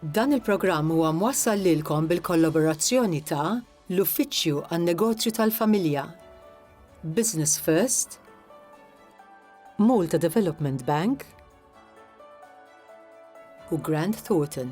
Dan il-programm huwa mwassal lilkom bil-kollaborazzjoni ta' l-Uffiċċju għan-Negozju tal-Familja, Business First, Malta Development Bank u Grant Thornton.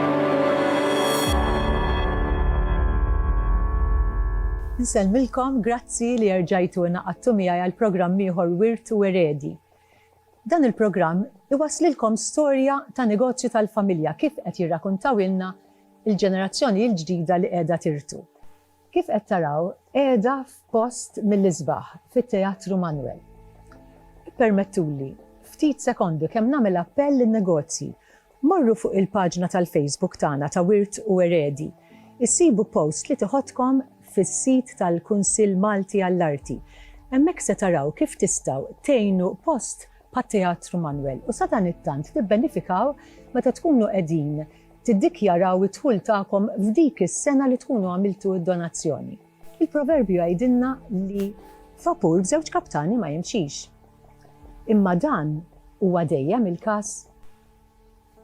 Nsellmilkom, grazzi li erġajtu ingħaqadtu miegħi għal programm ieħor Wirt u Eredi. Dan il-programm iwasslilkom storja ta' negozju tal-familja kif qed jirrakuntawilna l-ġenerazzjoni l-ġdida li qiegħda tirtu. Kif qed taraw, qiegħda f'post mill-isbaħ fit-Teatru Manwel. Ippermettuli, ftit sekondi kemm nagħmel appell lin-negozji, morru fuq il-paġna tal-Facebook tagħna ta' Wirt u Eredi, issibu post li tiħodkom fis-sit tal-Kunsill Malti għall-Arti. Hemmhekk se taraw kif tistgħu tgħinu post bħat-Teatru Manwel u sadanittant tibbenifikaw meta tkunu qegħdin tiddikjaraw id-dħul tagħkom f'dik is-sena li tkunu għamiltu d-donazzjoni. Il-proverbju jgħidilna li vapur b'żewġ kaptani ma jimxix. Imma dan huwa dejjem il-każ?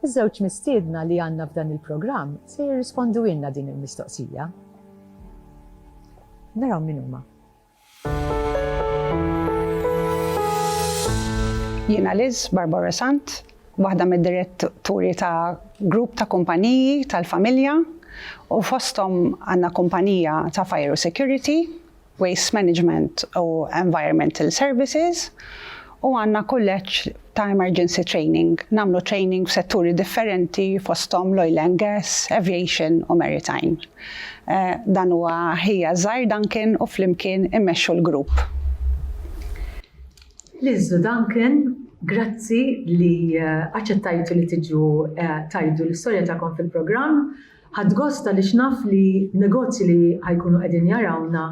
Iż-żewġ mistiedna li għandna f'dan il-programm se jirrisponduilna din il-mistoqsija. Naraw min huma. Jiena Liz Barbara Sant, waħda mid-diretturi ta' grupp ta' kumpaniji tal-familja u fosthom għandna kumpanija ta' fire u security, waste management u environmental services u għandna kulleġġ ta' emergency training, nagħmlu training f'setturi differenti fosthom l-oil and gas, aviation u maritime. Dan huwa ħija żgħir Duncan u flimkien immexxu l-grupp. Liżżu Duncan, grazzi li aċċettajtu li tiġu tgħidu l-istorja tagħkom fil-programm. Ħadt gost għaliex naf li negozji li ħa jkunu qegħdin jarawna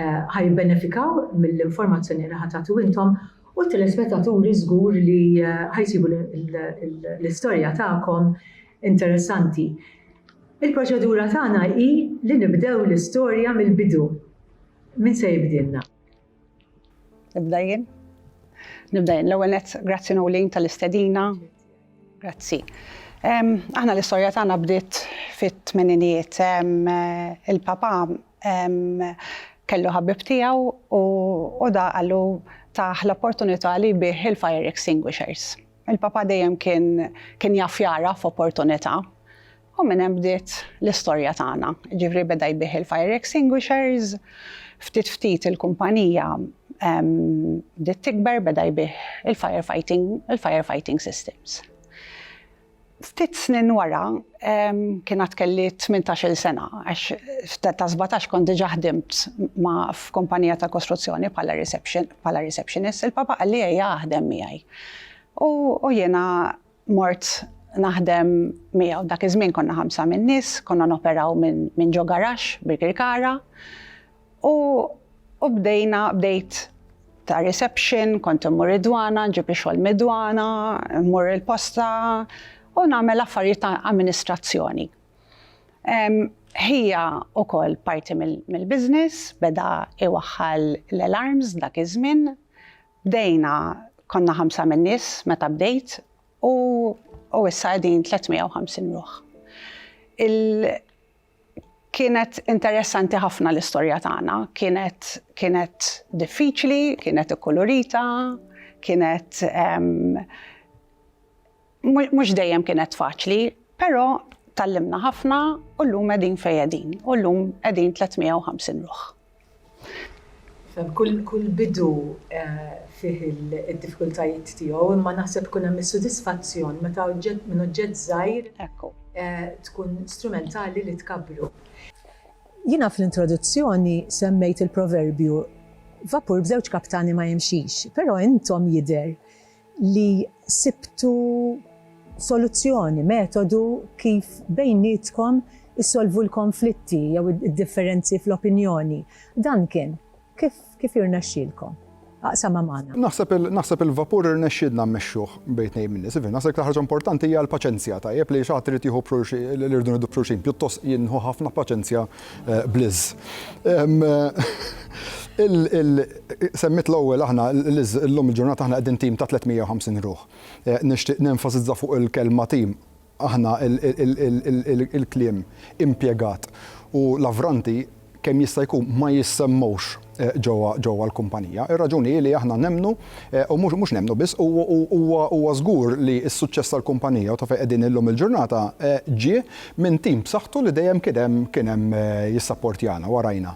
ħa jibbenefikaw mill-informazzjoni li ħa tagħtu intom u t-telespettaturi żgur li ħa jsibu l-istorja tagħkom interessanti. Il-proċedura tagħna hi li nibdew l-istorja mill-bidu. Min se jibdilna? Nibda jien. Nibda jien. L-ewwel nett, grazzi Nolin tal-istedina Grazzi. Aħna l-istorja tagħna bdiet fit-tmeninijiet. Il-Papa kellu ħabib tiegħu u da qallu tah l-opportunità li jbigħ il-fire extinguishers. Il-Papa dejjem kien kien jaf jagħraf opportunità U minn hemm bdiet l-istorja tagħna. Jiġifieri beda jbigħ il-fire extinguishers, ftit ftit il-kumpanija bdiet tikber, beda jbigħ il-fire fighting, il-fire fighting systems. Ftit snin wara kien għad kelli tmintax-il sena għax ta' sbatax kont diġà ħdimt ma' f'kumpanija ta' kostruzzjoni bħala reception, bħala receptionist, il-papa qalli ejja aħdem miegħi. U jiena Mort naħdem miegħu. Dak iż-żmien konna ħamsa min-nies, konna noperaw minn ġo garaxx Birkirkara u bdejna, bdejt ta' reception, kont immur id-dwana, nġib ix-xogħol mid-dwana, mmur il-posta u nagħmel affarijiet ta' amministrazzjoni. Ħija wkoll parti mill-business, beda iwaħħal l-alarms dak iż-żmien, Bdejna konna ħamsa min-nies meta bdejt u u issa qegħdin 350 ruħ. Il kienet interessanti ħafna l-istorja tagħna, kienet kienet diffiċli, kienet ikkulurita, kienet ehm, Mhux dejjem kienet faċli, però tgħallimna ħafna u llum qegħdin fejn qegħdin u llum qegħdin 350 ruħ. Kull bidu fih id-diffikultajiet tiegħu, imma naħseb ikun hemm is-sodisfazzjon meta oġġett minn oġġett żgħir tkun strumentali li tkabbru. Jiena fl-introduzzjoni semmejt il-proverbju, Vapur b'żewġ kaptani ma jimxix, però intom jidher li sibtu soluzzjoni, metodu kif bejnietkom issolvu l-konflitti jew id-differenzi fl-opinjoni. Dan kien. Kif kif irnexxielkom? Aqsamha magħna. Naħseb il naħseb il-vapur irnexxielna mmexxuh bejn tnejn min-nies. Iva, naħseb l-iktar ħaġa importanti hija l-paċenzja, tajjeb, li xi ħadd irid jieħu b'xulxi li rridu nieħdu b'xulxin. Pjuttost jien nieħu ħafna paċenzja bl-iż. Semmiet l-ewwel aħna l-iż, illum il-ġurnata aħna qegħdin tim ta' 350 ruħ. Nixtieq nenfasizza fuq il-kelma tim, aħna il-kliem impjegat u l-avranti kemm jista' jkun ma jissemmewx. ġewwa l-kumpanija. Ir-raġuni hi li aħna nemmnu, u mhux nemmnu biss, huwa żgur li s-suċċess tal-kumpanija u ta' fejn qegħdin illum il-ġurnata ġie minn tim b'saħħtu li dejjem kien hemm jissapportjana u warajna.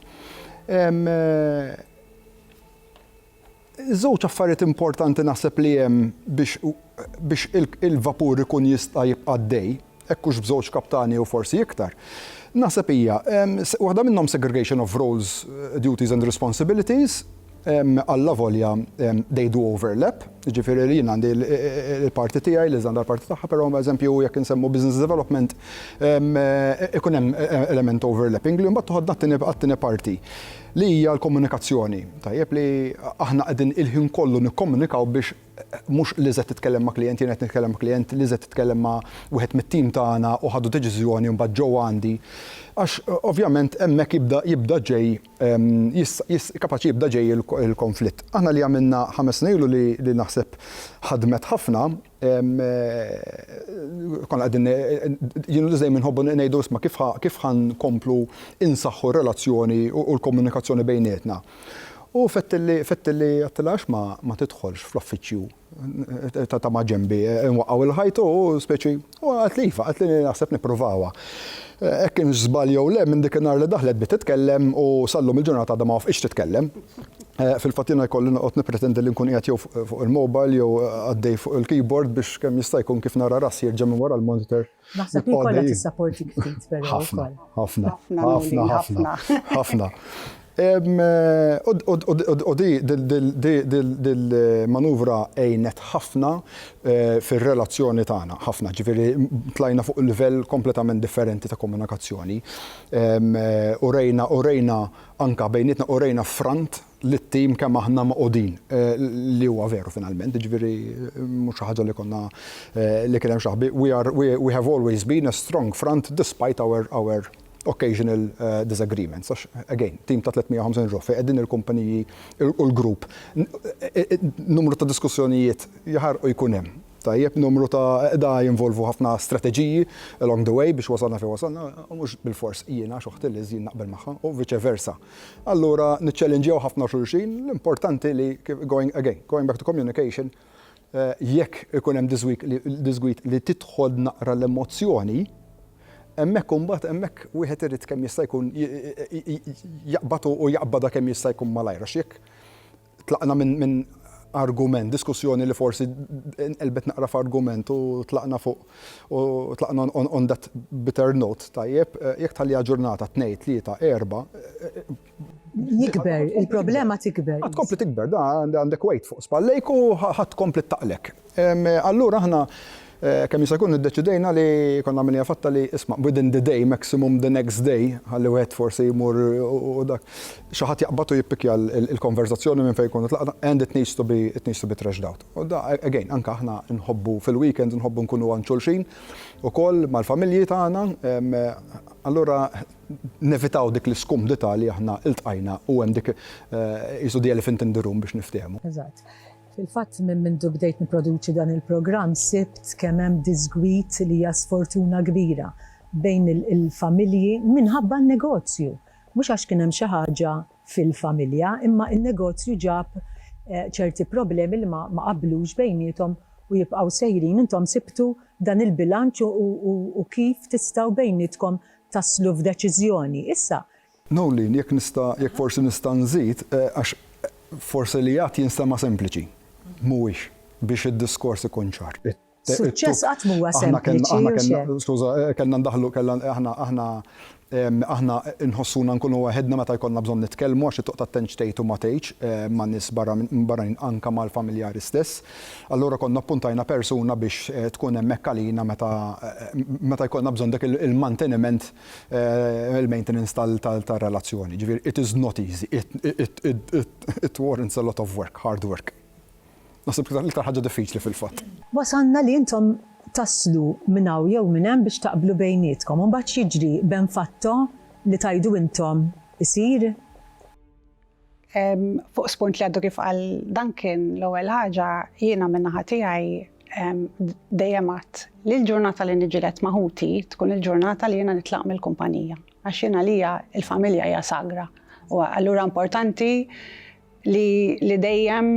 Żewġ affarijiet importanti naħseb li hemm biex biex il-vapur ikun jista' jibqa' għaddej, hekk hux b'żewġ kaptani jew forsi iktar, naħseb hija, waħda minnhom segregation of roles, duties and responsibilities, allavolja they do overlap, jiġifieri li jien għandi l-parti tiegħi, Liz għandha l-parti tagħha, però eżempju jekk insemmu business development ikun hemm element overlapping li mbagħad toħodna għat-tieni parti. Li hija l-komunikazzjoni. Tajjeb li aħna qegħdin il-ħin kollu nikkomunikaw biex mhux Lizette titkellem ma' klijent, jiena qed nitkellem ma' klijent, Lizette titkellem ma' wieħed mit-tim tagħna u ħadu deċiżjoni u mbagħad ġew għandi. Għax ovvjament hemmhekk jibda jibda ġej jista' kapaċi jibda ġej il-konflitt. Aħna li għamilna ħames snin ilu li naħseb ħadmet ħafna Konna qegħdin, jien u Liz dejjem inħobbu ngħidu isma' kif ħa nkomplu insaħħu r-relazzjoni u l-komunikazzjoni bejnietna. U fettilli, fettilli għedtilha għax ma tidħolx fl-uffiċċju ta' maġenbi, inwaqqgħu l-ħajt u speċi, u qaltli iva, qaltli naħseb nippruvawha. Hekk kienx żball jew le, minn dik in-nhar li daħlet bdiet titkellem u sal-lum il-ġurnata għadha ma wafqitx titkellem. Fil-fatt jiena jkolli noqgħod nippretendi li nkun qiegħed jew fuq il-mobile jew għaddej fuq il-keyboard biex kemm jista' jkun kif nara rassi jerġa' minn wara l-monitor. Naħseb li jkollha tissapportik ftit però wkoll. Ħafna, ħafna, ħafna, ħafna. U dil-manuvra għinet ħafna fir-relazzjoni tagħna, ħafna. Ġifieri tlajna fuq livell kompletament differenti ta' komunikazzjoni. Urejna, urejna. Anke bejnietna urejna ffront lit-tim kemm aħna mogħqudin, li huwa veru finalment, jiġifieri mhux xi ħaġa li konna li kien hemm xi ħbi, we are we have always been a strong front despite our our occasional disagreements għax again tim ta' 350 ruħ fejn qegħdin il-kumpaniji u l-grupp numru ta' diskussjonijiet jaħarqu jkun hemm. Tajjeb, numru ta' da jinvolvu ħafna strateġiji along the way biex wasalna fejn wasalna, u mhux bilfors jiena għax oħti Liz jien naqbel magħha, u vice versa. Allura niċċellinġjaw ħafna xulxin, l-importanti li going again, going back to communication, jekk ikun hemm diżgwid li tidħol naqra l-emozzjoni, hemmhekk imbagħad hemmhekk wieħed irid kemm jista' jkun jaqbad u jaqbadha kemm jista' jkun malajr għax jekk Tlaqna minn argument, diskussjoni li forsi nqelbet naqra f'argument u tlaqna fuq u tlaqna on that bitter note, tajjeb, jekk tħalliha ġurnata, tnejn, tlieta, erbgħa, Jikber, il-problema tikber. Tkompli tikber, għandek weight fuq spallejk u ħa tkompli ttaqlek. Allura aħna kemm jista' jkun iddeċidejna li konna għamilniha fatta li isma' within the day, maximum the next day, ħalli wieħed forsi jmur u dak, xi ħadd jaqbad u jippikkja l-konverżazzjoni minn fejn jkunu tlaqna and it needs to be it needs to be thrashed out. U da again anke aħna nħobbu fil-weekends nħobbu nkunu għand xulxin ukoll mal-familji tagħna allura nevitaw dik l-iskumdità li aħna iltqajna u hemm dik qisu the elephant in the room biex nifthehmu. Eżatt. Fil-fatt minn mindu bdejt nipproduċi dan il-programm sibt kemm hemm diżgwid li hija sfortuna kbira bejn il-familji minħabba n-negozju. Mhux għax kien hemm xi ħaġa fil-familja imma n-negozju ġab ċerti problemi li ma qablux bejniethom u jibqgħu sejrin. Intom sibtu dan il-bilanċ u kif tistgħu bejnietkom taslu f'deċiżjoni. Issa Noeleen, jekk nista', jekk forsi nista' nżid, għax forsi li għadt jinstema' sempliċi. Mhuwiex, biex id-diskors ikun ċar. Suċċess qatt m'huwa sempliċi, u x'hekk. Skuża, kellna ndaħħlu, kellna, aħna, aħna, aħna nħossuna nkunu waħedna meta jkollna bżonn nitkellmu għax it-toqta tentx tgħid u ma tgħidx ma' nies barra minn barranin anke mal-familjari stess. Allura konna ppuntajna persuna biex tkun hemmhekk għalina meta, meta jkollna bżonn dak il-manteniment il-maintenance tar-relazzjoni. Jiġifieri it is not easy, it warrants a lot of work, hard work. Naħseb l-iktar ħaġa diffiċli fil-fatt. Wasalna li intom taslu minn hawn jew minn hemm biex taqblu bejnietkom u mbagħad x'jiġri, ben fatto li tgħidu intom isir? Fuq spunt li għaddu kif qal Duncan, l-ewwel ħaġa jiena min-naħa tiegħi dejjem għadt li l-ġurnata li niġġieled ma' ħuti tkun il-ġurnata li jiena nitlaq mill-kumpanija għax jien għalija l-familja hija sagra u allura importanti li li dejjem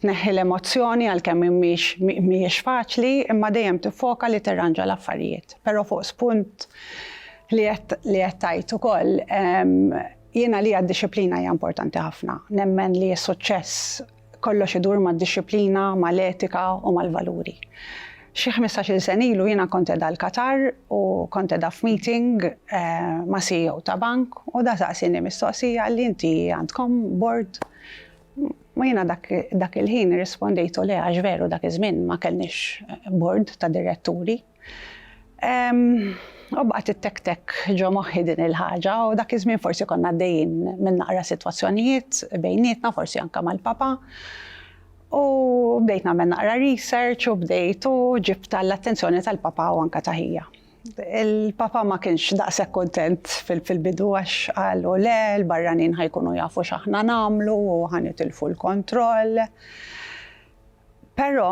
tneħħi l-emozzjoni għalkemm mhix mhijiex faċli imma dejjem tiffoka li tirranġa l-affarijiet. Però fuq spunt li qed li qed tgħid ukoll Jien għalija d-dixxiplina hija importanti ħafna. Nemmen li s-suċċess kollox idur mad-dixxiplina, mal-etika u mal-valuri. Xi ħmistax-il sena ilu jiena kont qiegħda l-Qatar u kont qiegħda f'meeting ma' CEO ta' bank u da saqsieni mistoqsija qalli inti għandkom board u jiena dak il-ħin irrispondejtu le għax veru dak iż-żmien ma kellniex board ta' diretturi. U baqgħet ittektek ġo moħħi din il-ħaġa u dak iż-żmien forsi konna għaddejjin minn naqra sitwazzjonijiet bejnietna, forsi anke mal-papa. U bdejt nagħmel naqra research u bdejt u ġibt għall-attenzjoni tal-papa u anke ta' ħija. Il-papa ma kienx daqshekk kuntent fil-bidu għax qalu le, l-barranin ħajkunu jafu x'aħna nagħmlu u ħa nitilfu l-kontroll. Però,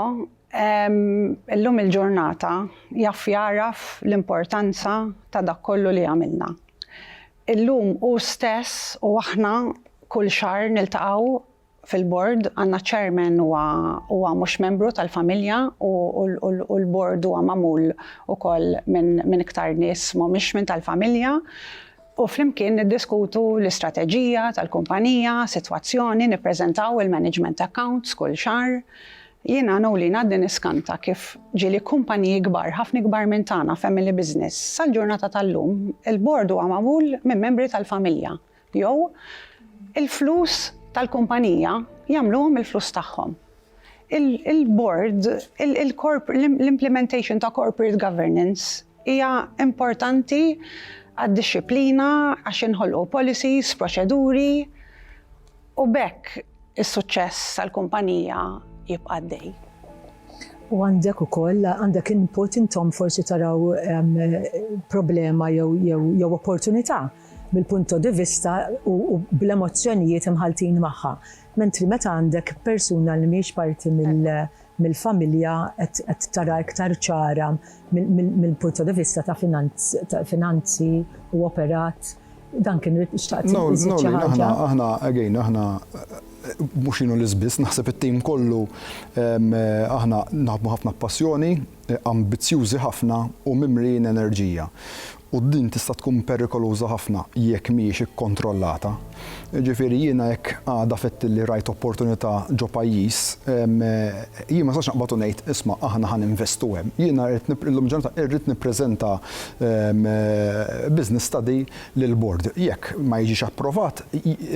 illum il-ġurnata, jaf jagħraf l-importanza ta' dak kollu li għamilna. Illum hu stess u aħna kull xahar niltaqgħu fil-Bord, għandna Chairman huwa huwa mhux membru tal-familja u u l-Bord huwa magħmul ukoll minn minn iktar nies m'humiex minn tal-familja. u flimkien niddiskutu l-istrateġija tal-kumpanija, sitwazzjoni, nippreżentaw il-management accounts kull xahar. Jiena Noeline għadni niskanta kif ġieli kumpaniji kbar, ħafna ikbar minn tagħna, family business. Sal-ġurnata tal-lum, il-board huwa magħmul minn membri tal-familja jew il-flus tal-kumpanija jagħmluhom il-flus tagħhom. Il-Bord, l-implementation ta' corporate governance hija importanti għad-dixxiplina għax jinħolqu policies, proċeduri u b'hekk is-suċċess tal-kumpanija jibqa' għaddej. U għandek ukoll, għandek input intom forsi taraw problema jew opportunità mill-punto di vista u bl-emozzjonijiet imħalltin magħha. Mentri meta għandek persuna li mhijiex parti mill-familja qed tara iktar ċara mill-punto di vista ta' finanzi u operat, dan kien irid xtaqt iżid xi ħaġa? No, no, aħna, again, aħna mhux jien u Liz biss, naħseb it-tim kollu aħna naħdmu ħafna b'passjoni, ambizzjużi ħafna u mimlijin enerġija. U din tista' tkun perikoluża ħafna jekk mhijiex ikkontrollata. Jiġifieri jiena jekk għada fettilli rajt opportunità ġo pajjiż, jien ma nistax naqbad u ngħid, isma' aħna ħa ninvestu hemm. Jiena rrid nip-, illum il-ġurnata irrid nippreżenta business study lill-bord. Jekk ma jiġix approvat,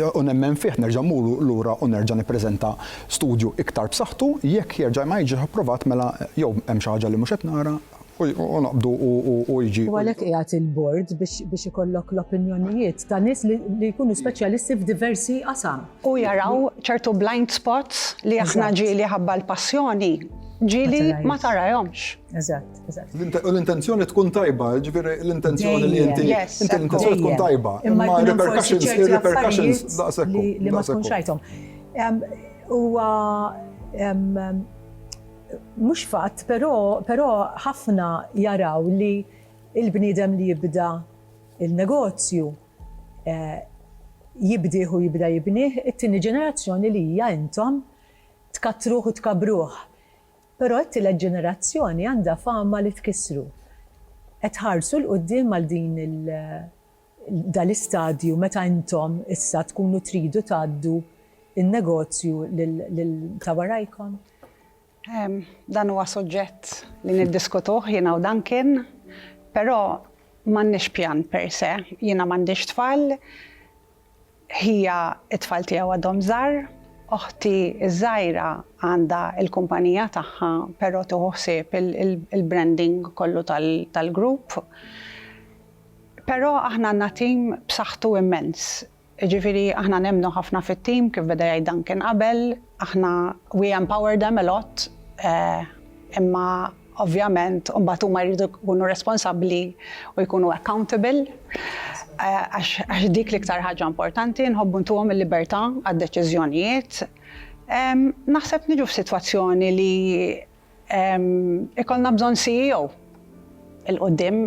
u nemmen fih, nerġa' mmur lura u nerġa' nippreżenta studju iktar b'saħħtu, jekk jerġa' ma jiġix approvat mela jew hemm xi ħaġa li mhux qed nara, U għalhekk qiegħed il-Bord biex ikollok l-opinjonijiet ta' nies li jkunu speċjalisti f'diversi qasam. U jaraw ċertu blind spots li aħna ġieli ħabba l-passjoni, ġieli ma tarahomx. Eżatt, eżatt. U l-intenzjoni tkun tajba, jiġifieri l-intenzjoni li inti, l-intenzjoni tkun tajba, imma r-repercussions daqshekk hu. Li ma tkunx rajthom. Huwa Mhux fatt, però però ħafna jaraw li l-bniedem li jibda l-negozju jibdieh u jibda jibnih it-tieni ġenerazzjoni li hija intom tkattruh u tkabbruh. Però t-tielet ġenerazzjoni għandha fama li tkissru. Qed tħarsu 'l quddiem għal din il dal-istadju meta intom issa tkunu tridu tgħaddu n-negozju lil ta' warajkom? Dan huwa suġġett li niddiskutuh jiena u Duncan, però m'għandniex pjan per se. Jiena m'għandix tfal. Ħija, it-tfal tiegħu għadhom żgħar. Oħti ż-żgħira għandha l-kumpanija tagħha però tieħu ħsieb il-branding kollu tal-grupp. Però aħna għandna tim b'saħħtu immens. Jiġifieri aħna nemmnu ħafna fit-tim kif beda jgħid Duncan qabel. Aħna we empower them a lot imma Ovvjament, imbagħad huma jridu jkunu responsabbli u jkunu accountable għax dik l-iktar ħaġa importanti, nħobbu ntuhom il-libertà għad-deċiżjonijiet. Naħseb niġu f'sitwazzjoni li jkollna bżonn CEO 'l quddiem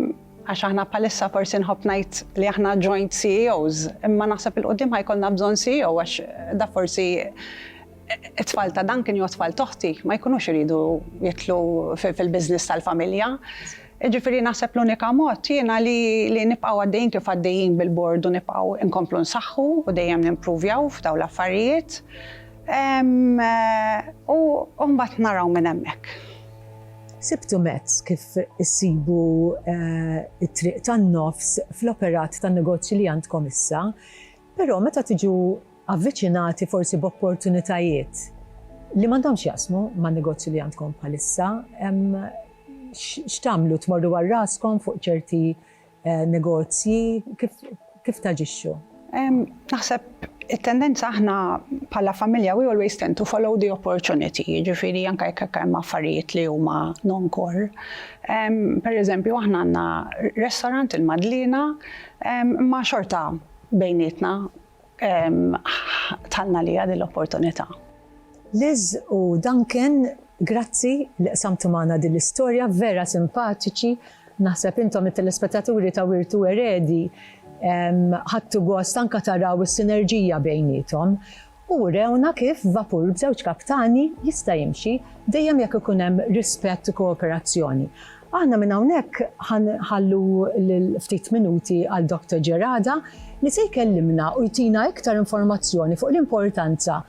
għax aħna bħalissa forsi nħobb ngħid li aħna joint CEOs, imma naħseb 'l quddiem ħa jkollna bżonn CEO għax dak forsi It-tfal ta' Duncan jew it-tfal t'oħti ma jkunux iridu jidħlu fil-business tal-familja. Jiġifieri naħseb l-unika mod jiena li nibqgħu għaddejjin kif għaddejjin bil-Bord u nibqgħu nkomplu nsaħħu u dejjem nimpruvjaw f'dawn l-affarijiet. U mbagħad naraw minn hemmhekk. Sibtu mezz kif issibu t-triq tan-nofs fl-operat tan-negozju li għandkom issa, però meta tiġu avviċinati forsi b'opportunitajiet li m'għandhomx x'jaqsmu man-negozju li għandkom bħalissa, x'tagħmlu, tmorru għal raskom fuq ċerti negozji, kif taġixxu? Naħseb it-tendenza aħna bħala familja we always tend to follow the opportunity, jiġifieri anke jekk hekk hemm affarijiet li huma non-core. Pereżempju aħna għandna restorant il-Madliena imma xorta bejnietna Tħallna għaliha din l-opportunità. Liz u Duncan, grazzi li qsamtu magħna din l-istorja, vera simpatiċi. Naħseb intom it-telespettaturi ta' Wirtu Eredi ħadtu gost anke taraw is-sinerġija bejniethom u urewna kif vapur b'żewġ kaptani jista' jimxi dejjem jekk ikun hemm rispett u kooperazzjoni. Aħna minn hawnhekk ħa nħallu lil ftit minuti għal Doctor Gerada li se jkellimna u jtina iktar informazzjoni fuq l-importanza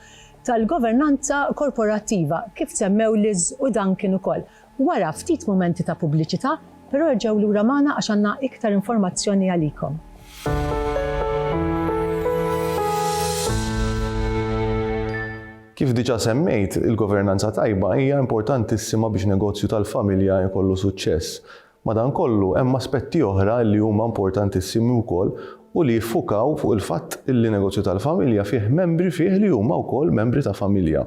tal-governanza korporattiva kif semmew Liz u Duncan ukoll. Wara ftit mumenti ta' pubbliċità, però erġgħu lura magħna għax għandna iktar informazzjoni għalikom. Kif diġà semmejt, il-governanza tajba hija importantissima biex negozju tal-familja jkollu suċċess. Madankollu, hemm aspetti oħra li huma importantissimi wkoll u li jiffukaw fuq il-fatt li negozju tal-familja fih membri fih li huma wkoll membri ta' familja.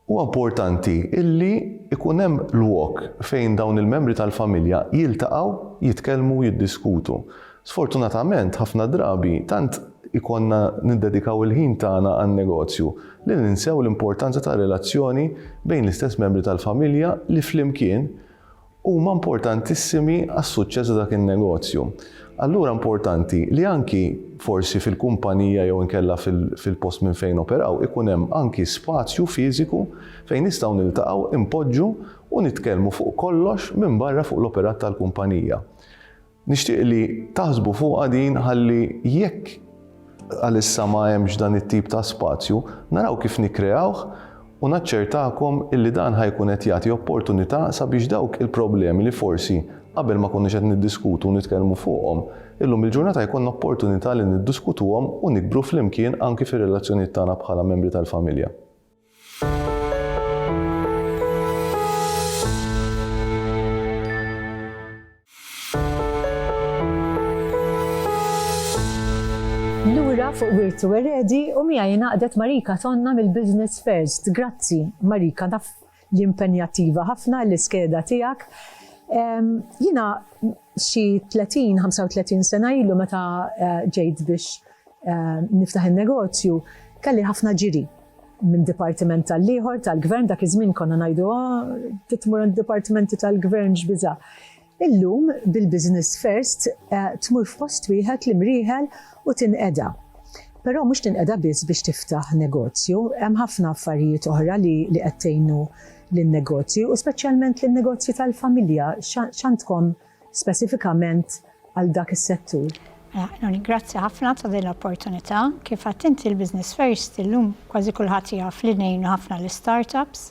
Huwa importanti li jkun hemm lwok fejn dawn il-membri tal-familja jiltaqgħu, jitkellmu u jiddiskutu. Sfortunatament, ħafna drabi, tant ikollna niddedikaw il-ħin tagħna għan-negozju li ninsew l-importanza tar-relazzjoni bejn l-istess membri tal-familja li flimkien huma importantissimi għas-suċċess ta' dak in-negozju. Allura importanti li anki forsi fil-kumpanija jew inkella fil-post minn fejn noperaw ikun hemm anki spazju fiżiku fejn nistgħu niltaqgħu, inpoġġu u nitkellmu fuq kollox minbarra fuq l-operat tal-kumpanija. Nixtieq li taħsbu fuqha din ħalli jekk għalissa ma hemmx dan it-tip ta' spazju, naraw kif nikkreawh u naċċertakom illi dan ħa jkun qed jagħti opportunità sabiex dawk il-problemi li forsi qabel ma konniex qed niddiskutu u nitkellmu fuqhom, illum il-ġurnata jkollna opportunità li niddiskutuhom u nikbru flimkien anki fir-relazzjonijiet tagħna bħala membri tal-familja. Lura fuq wirtu eredi u miegħi ingħaqdet Marika Tonna mill-Business First. Grazzi, Marika, naf li impenjattiva ħafna l-iskeda tiegħek. Jiena xi 30, 35 sena ilu meta ġejt biex niftaħ in-negozju kelli ħafna ġiri minn dipartiment tal-ieħor tal-gvern dak iż-żmien konna ngħidu ah, titmur dipartimenti tal-gvern x'biża'. Illum bil-Business First eh, tmur f'post wieħed li mrieħel u tinqeda. Però mhux tinqeda biss biex tiftaħ negozju, hemm ħafna affarijiet oħra li li qed tgħinu lin-negozji u speċjalment lin-negozji tal-familja x'għandkom speċifikament għal dak is-settur. Mela, Noni, grazzi ħafna ta' din l-opportunità. Kif għedt inti l-Business First illum kważi kulħadd jaf li ngħinu ħafna l-istartups.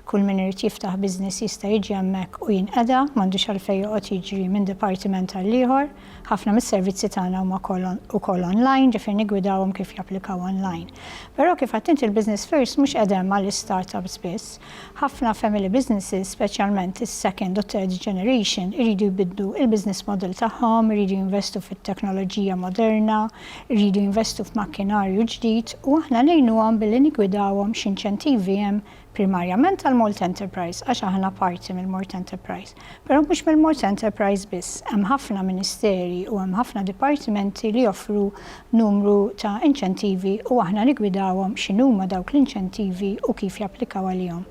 Kull min irid jiftaħ business jista' jiġi hemmhekk u jinqeda, m'għandux għalfejn joqgħod jiġri minn dipartiment għal ieħor. Ħafna mis-servizzi tagħna huma wkoll on- ukoll online, ġifieri niggwidawhom kif japplikaw online. Però kif għedt inti l-Business First mhux qegħda hemm għall-istartups biss, Ħafna family businesses, speċjalment is-second u third generation, iridu jbiddlu l-business model tagħhom, iridu jinvestu fit-teknoloġija moderna, iridu jinvestu f'makkinarju ġdid u aħna ngħinuhom billi niggwidawhom x'inċentivi hemm primarjament għall-Malt Enterprise għax aħna parti mill-Malt Enterprise. Però mhux mill-mod ta' enterprise biss. Hemm ħafna ministeri u hemm ħafna dipartimenti li joffru numru ta' inċentivi u aħna niggwidawhom x'inhuma dawk l-inċentivi u kif japplikaw għalihom.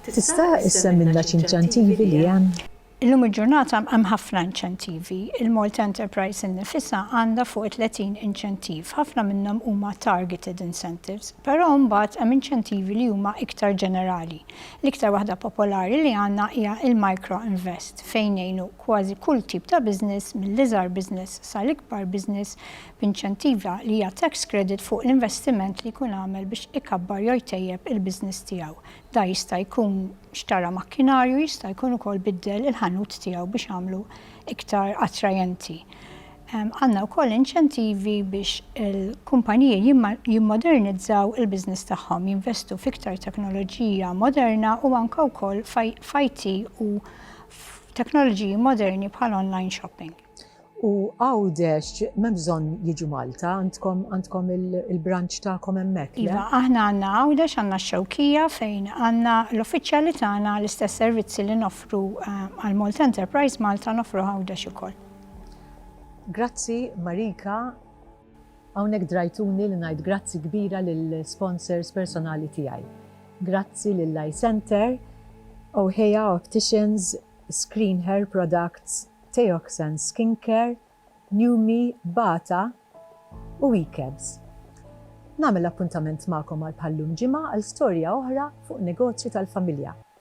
Tista' issemmilna x'inċentivi li hemm? Illum il-ġurnata hemm ħafna inċentivi. Il-Malta Enterprise innifisha għandha fuq it-30 inċentiv. Ħafna minnhom huma targeted incentives. Però mbagħad hemm inċentivi li huma iktar ġenerali. L-iktar waħda popolari li għandna hija l-micro invest fejn ngħinu kważi kull tip ta' business mill-iżgħar business sal-ikbar business b'inċentiva li hija tax credit fuq l-investiment li jkun għamel biex ikabbar jew jtejjeb il-business tiegħu. Dan jista' jkun xtara makkinarju, jista' jkun ukoll biddel il-ħanut tiegħu biex għamlu iktar attrajenti. Għandna wkoll inċentivi biex il-kumpaniji jimmodernizzaw il-business tagħhom, jinvestu f'iktar teknoloġija moderna u anke wkoll f'IT u f'teknoloġiji moderni bħal online shopping. U Għawdex m'hemm bżonn jiġu Malta, għandkom il-branch tagħkom hemmhekk, le? Iva, aħna għandna Għawdex, għandna x-Xewkija fejn għandna l-uffiċjali tagħna, l-istess servizzi li noffru għall-Malta Enterprise Malta noffru Għawdex ukoll. Grazzi Marika, hawnhekk drajtuni li ngħid grazzi kbira lill-sponsors personali tiegħi. Grazzi lil Eye Centre, Ohea Opticians, Screen Hair Products, Teoxane Skincare, Numi, Bata u Ecabs. Nagħmel appuntament magħkom għal bħal-lum ġimgħa għal storja oħra fuq negozju tal-familja.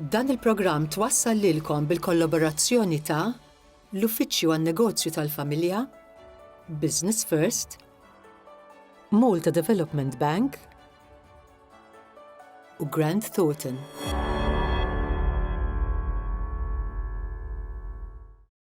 Dan il-programm twassal lilkom bil-kollaborazzjoni ta' l-Uffiċċju għan-Negozju tal-Familja, Business First, Malta Development Bank u Grant Thornton.